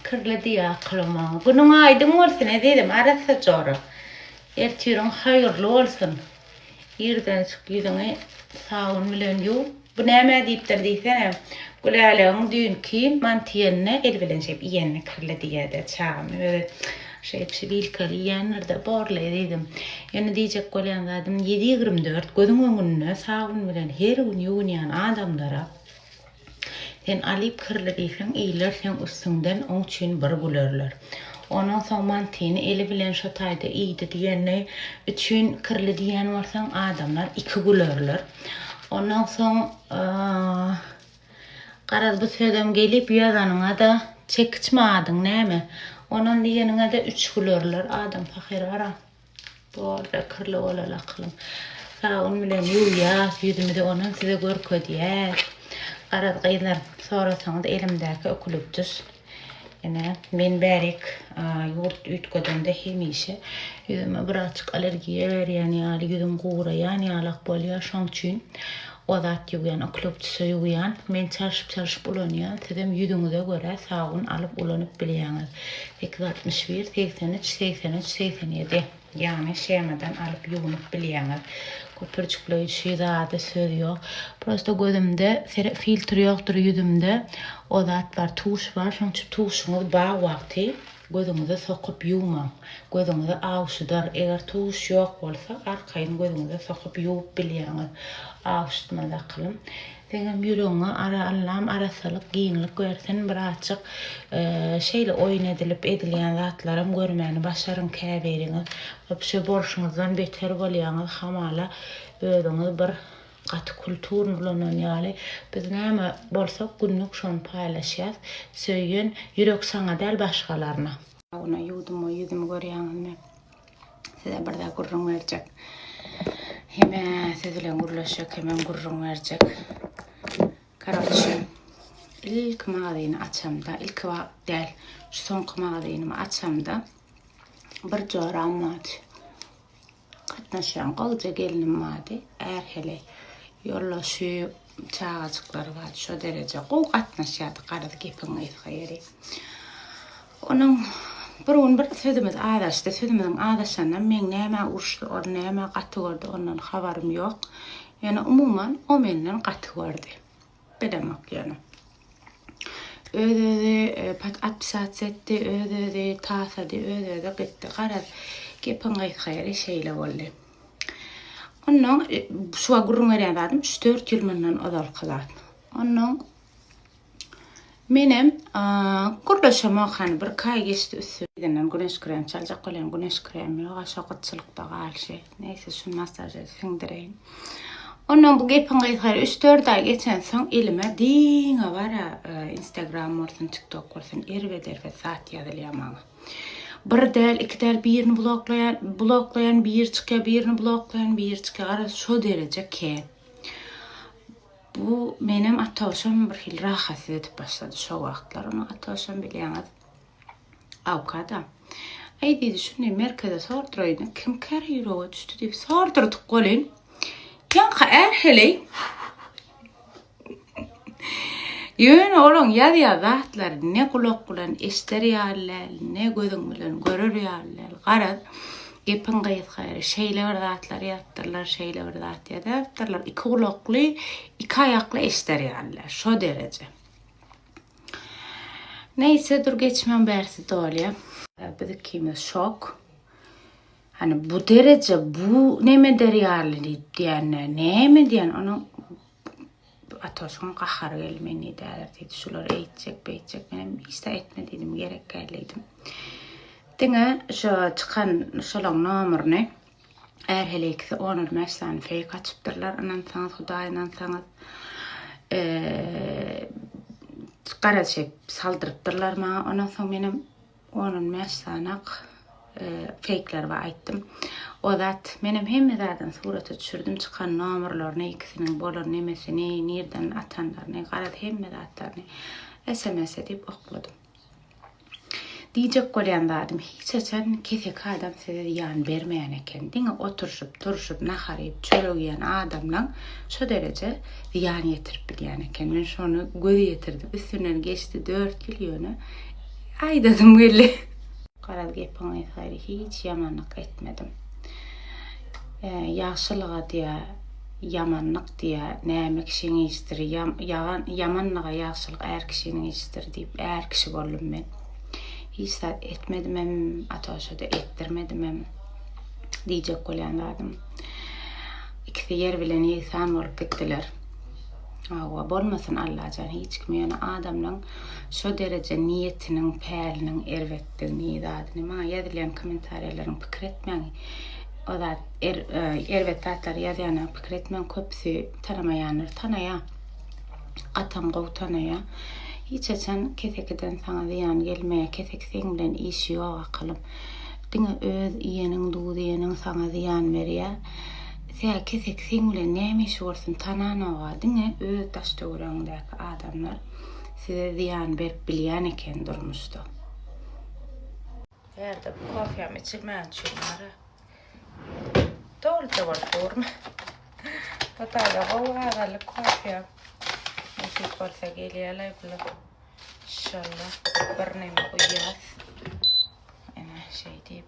Kirli diýýä akylymyň. Günüň aýdyň bolsun ezizim arassa jora. Ertiriň haýyrly bolsun. Irden çyk ýüzüňi sabyn bilen ýuw. Bu näme diýipdir diýsene. Gülälegiň düýnki mantiýenine el bilen şeýdip iýenini kirli diýýädä çagam. Özi Şeýdip şibilkeli iýenlerde borly ezizim. Ýöne diýjek bolýan zadym ýedi ýigrimi dört gözüň öňünde sabun bilen her gün ýuwunýan adamlara sen alyp kirli diýseň iýler seň üstüňden oň üçin bir gülerler. Onuň soň mantyny eli bilen şo taýda iýdi diýeni üçin kirli diýen bolsaň adamlar iki gülerler. Ondan soň Garaz bu sözem gelip ýazanyňada çekiçmi adyň näme? Onam diýeniňede üç gülerler adam pahyr bara. Boldy kirli bolal akylym. Sabun bilen ýuwýas ýüzümizi onam size görkezýäs. Garaz gyzlar sorasaňyz elimdäki ökülipdis. Ine, men bärek ýurt üýtgedende hemişe ýüzüme birazjyk allergiýa berýän ýaly, ýüzüm guraýan ýalak bolýar. Şoň üçin o zat ýuwýan, okloptisa ýuwýan. Men çalşyp-çalşyp ulanýan. Sizem ýüzüňize görä sabyn alyp ulanyp bilýäňiz. Sekiz altmyş bir, segsen üç, segsen üç, segsen ýedi. Ýagny shemadan alyp ýuwnup bilýäňiz. Köpürjikleýji şy zady söz ýok. Prosta gözümde sere filtr ýokdur ýüzümde o zat bar tuş bar şoň üçin tuşuňyz bar wagty gözüňize sokup ýuwmaň. Gözüňizi awşydar. Eger tuş ýok bolsa arkaýyn gözüňize sokup ýuwup bilýäňiz. Awşytmaz akylym. Seňem ýüregiňe ara Allam arassalyk giňlik bersin bratjyk şeýle oýun edilip edilýän zatlaram görmäni başaryň käbiriňiz wapşe bolşuňyzdan beter bolýaňyz hamala özüňiz bir gaty kulturny ulanan ýaly biz näme bolsak günlük şony paýlaşýas söýen ýürek saňa däl başgalaryna. Ýa ony ýuwdum we ýüzümi görýäňizmi. Size bir zat gürrüň berjek. Heme siz bilen gürleşjek, hemem gürrüň berjek. Karoçe, ilk magazyny açamda, ilk wagt däl, şu soňky magazynymy açamda bir joram bardy. Gatnaşýan gowja gelnim bardy. Ärhele ýollaşyp, Çagajyklary bar, şo dereje gowy gatnaşýardyk, garaz gepiň gysga ýeri. Onuň bir gün bir sözümiz azaşdy, sözümiziň azaşanynam meň nämä uruşdy, ony nämä gaty gördi, ondan habarym ýok. Ýöne umuman o menden gaty gördi. Bilemok ýöne. Öz-özi e, pat atpisasiýa etdi, öz-özi tasady, öz-özi gitdi. Garaz, gepiň gysga ýeri şeýle boldy. Ondan şu gürrüň berýän zadym 3-4 ýyl mundan ozalky zat. Ondan menem gürleşem okan bir kaý geçdi üstünden güneş krem çaljak bolýan güneş kremi ýok aşa gytçylykda galşy. Neyse şu masaja siňdireýin. Ondan bu gepiň gysyr 3-4 ay geçen soň elime diňe bara e, Instagram bolsun, TikTok bolsun erbet erbet zat ýazylýar maňa. Bir däl iki däl birini bloklaýan bloklaýan biri çykýar birini bloklaýan biri çykýar garaz şo dereje ke bu menem atoşam bir hil rahatsız edip başlady şo wagtlar onu atoşam bilýäňiz awkada Aý diýdi şuny merkeze sordraýyn kim kär ýürege düşdi diýip sordurdyk bolin ýaňka är heleý Ýöne olaň ýazýan zatlary ne gulak bilen eşder ýaly däl, ne gözüň bilen görer ýaly däl. Garaz, gepiň gysgary, şeýle bir zatlar ýazypdyrlar, şeýle bir zat ýazypdyrlar, iki gulakly, iki aýakly eşder ýaly däl. Şo dereje. Neýse, dur geçmän bärsi dolýar. Biz ikimiz şok. Hany bu dereje bu neme der ýaly diýip diýende neme diýen onuň Atoşyň gahary geldi men nidäler diýdi şular eýtjek beýtjek men hem hiç etme diýdim gerek gel diýdim. Diňe şu çykan şolaň nomerini Är hele ikisi 15 sany feýk açypdyrlar. Ynansaňyz Hudaý ynansaňyz eee gara çep saldyrypdyrlar maňa. Ondan soň menem Onun bäş sanak feýkler bar aýtdym. O zat menem hemme zadyny surata düşürdim çykan nomerlerini ikisiniň bolan nemesini nirden atanlaryny garaz hemme zatlaryny sms edip okladym. Diýjek bolýan zadym hiç haçan keseki adam size zyýan bermeýän eken diňe oturşyp turşyp nahar iýip çörek iýen adamlaň şo dereje zyýan ýetirip bilýän eken men şony göz ýetirdim üstünden geçdi dört ýyl ýöne Aýdasym geldi. Garaz gepiňi saýry hiç ýamanlyk etmedim. E, ýagşylyga diýä ýamanlyk diýä näme kişiň işdir ýagan ýamanlyga ýagşylyk är kişiniň işdir diýip är kişi boldum men hiç zat etmedim hem atoşa da etdirmedim hem diýjek bolýan zadym ikisi ýer bilen ýegsan bolup gitdiler Hawa bolmasyn Allajan hiç kim ýöne adamlaň şo dereje niýetiniň päliniň erbetdigini zadyny maňa ýazylýan komentarýalaryň pikir etmäň o zat er erbet zatlary ýazýana pikir etmäň köpüsi tanamaýandyr tanaýa gatam gowy tanaýa hiç haçan kesekiden saňa zyýan gelmeýä keseki seň bilen işi ýok akylym diňe öz iýeniň duz iýeniň saňa zyýan berýä Tä keseki seň bilen näme işi bolsun tananoga diňe öz daş töweregiňdäki adamlar size zyýan berip bilýän eken durmuşda. Ýerde bu kofýam içilmän üçin bara doluja bolup durmy. Hytaýda gowy gazanlyk kofýa nesip bolsa gelýärlaý bular. Inşallah birneme guýýas. Ene şeý diýip.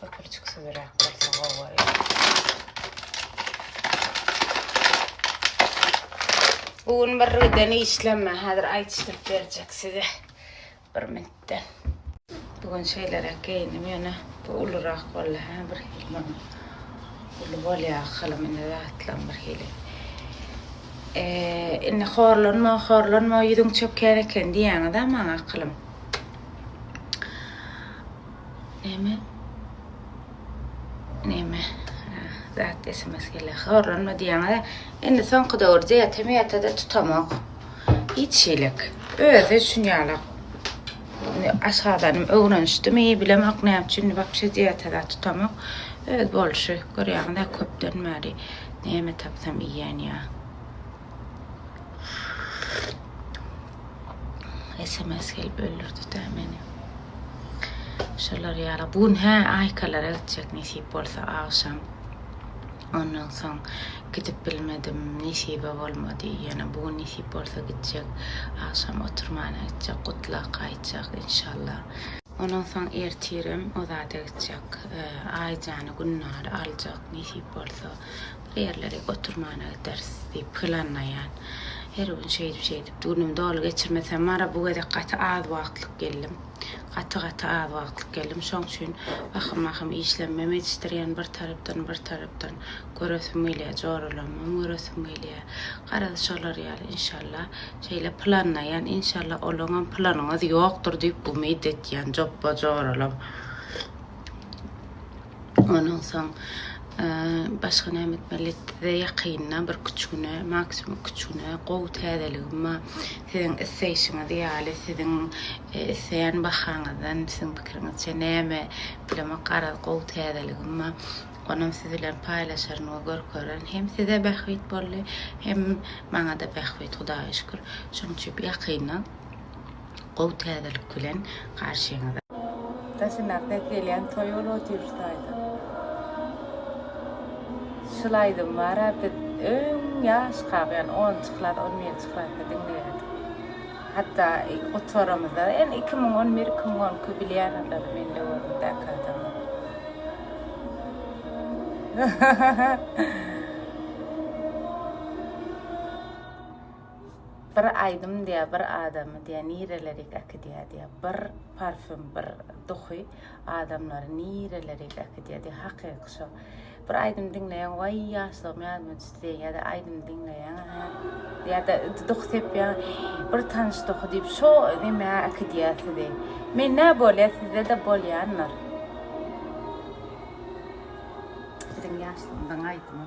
Köpürçik süýräp bolsa gowy bolýar. Bu gün bir giden işlemme. Häzir aýdyşdyryp berjek size. Bir minutdan. Bu gün şeýleräk geýindim ýöne bu ulurak boldy. Hä bir hili uly bolýar halam indi zatlam bir hili. Eee, indi horlanma, horlanma, ýüzüň çökýän eken diýýäňiz-ä maňa akylym. Neme neme zat sms gelýär horlanma diýýäňiz indi soňky döwürde ýata ýata da tutamok hiç şeýlek özi üçin ýalak aşgazanym öwrenişdimi bilemok näme üçin wapşe diýata da tutamok öz bolşy görýäňiz köpden bäri näme tapsam iýýän ýa Sms gelip öldürdi de meni. Şolar ýaly. Bu gün hä Aýkalara gitjek nesip bolsa agşam. Ondan soň gidip bilmedim, nesibe bolmady. Ýöne bu gün nesip bolsa gitjek. Agşam oturmana gitjek, gutlak aýtjak inşallah. Ondan soň ertirem o zada gitjek. Aýjany, Gülnary aljak nesip bolsa. Bir ýerlere oturmana gideris diýip planlaýan. Her gün şeýdip-şeýdip günümi doly geçirmesem bar-a, bu gezek gaty az wagtlyk geldim. Gaty-gaty az wagtlyk geldim. Şoň üçin wahym-wahym işlemem ýetişdirýän bir tarapdan, bir tarapdan göresim gelýär, joralamam göresim gelýär. Garaz, şolar ýaly, inşallah, şeýle planlaýan. Inşallah, olaňam planyňyz ýokdur diýip umyt etýän, jopba-joralam. Ondan soň başga näme etmeli? Lettize ýakynda bir üç güne, maksimum iki üç güne gowy täzeligim bar. Siziň isleýşiňiz ýaly, siziň isleýän bahaňyzdan, siziň pikiriňizçe näme bilemok, garaz gowy täzeligim bar. Onam siz bilen paýlaşaryn we görkererin. Hem size bähbit boldy, hem maňa-da bähbit, Hudaýa şükür. Şonuň üçin ýakynda Gowy täzelik bilen garşyňyzda. Daşyndaky ses gelýän toý ol otyr şu taýda. Şul aýdym bara biz öň ýaş kak ýani onunjy klas on birinji klasda diňleýärdik. Hatda gutaramyzda ýani iki müň on bir iki müň on iki bilýän olar men döwürümdäki adamlar. Bir aýdym diýä bir adamy diýä nirelerik äkidýä diýä bir parfüm bir duhy adamlary nirelerik äkidýä diýä hakyky şo bir aýdym diňleýäň waý ýaşlygym ýadyma düşdi diýä ýada aýdym diňleýäň hä ýada duhy sepýäň bir tanyş duhy diýip şo demä äkidýä sizi mende bolýa sizdede bolýandyr biziň ýaşlygymyzyň aýdymy.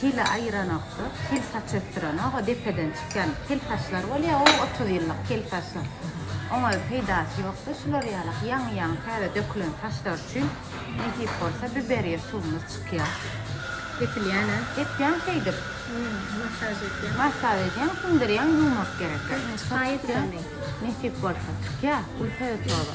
Hili aýyranokda, hil saç ösdürenok, o depeden çykýan hil saçlar bolýa, o otuz ýyllyk hil saçlar. Oňa peýdasy ýokda, şular ýalak ýaňy-ýaňy täze dökülen saçlar üçin nesip bolsa biberiýa suwumyz çykýa. Depilýän-ä? Depýäň şeýdip. Massaj edýäň. Massaj edýäň, siňdirýäň, ýuwmak gerek-ä. Şaýy bilen deň. Nesip bolsa çykýa, ulta ýotoba.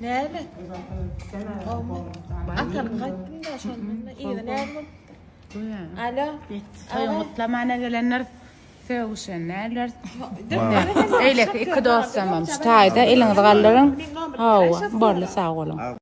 Näme? Atam gaýtdym da şonda ýene näme bolupdy? Alo. Toýuň gutlamana gelenler sögüşen näler? Eýleki iki dostumam şu taýda eliňizi galdyryň. Hawa, boldy sag boluň.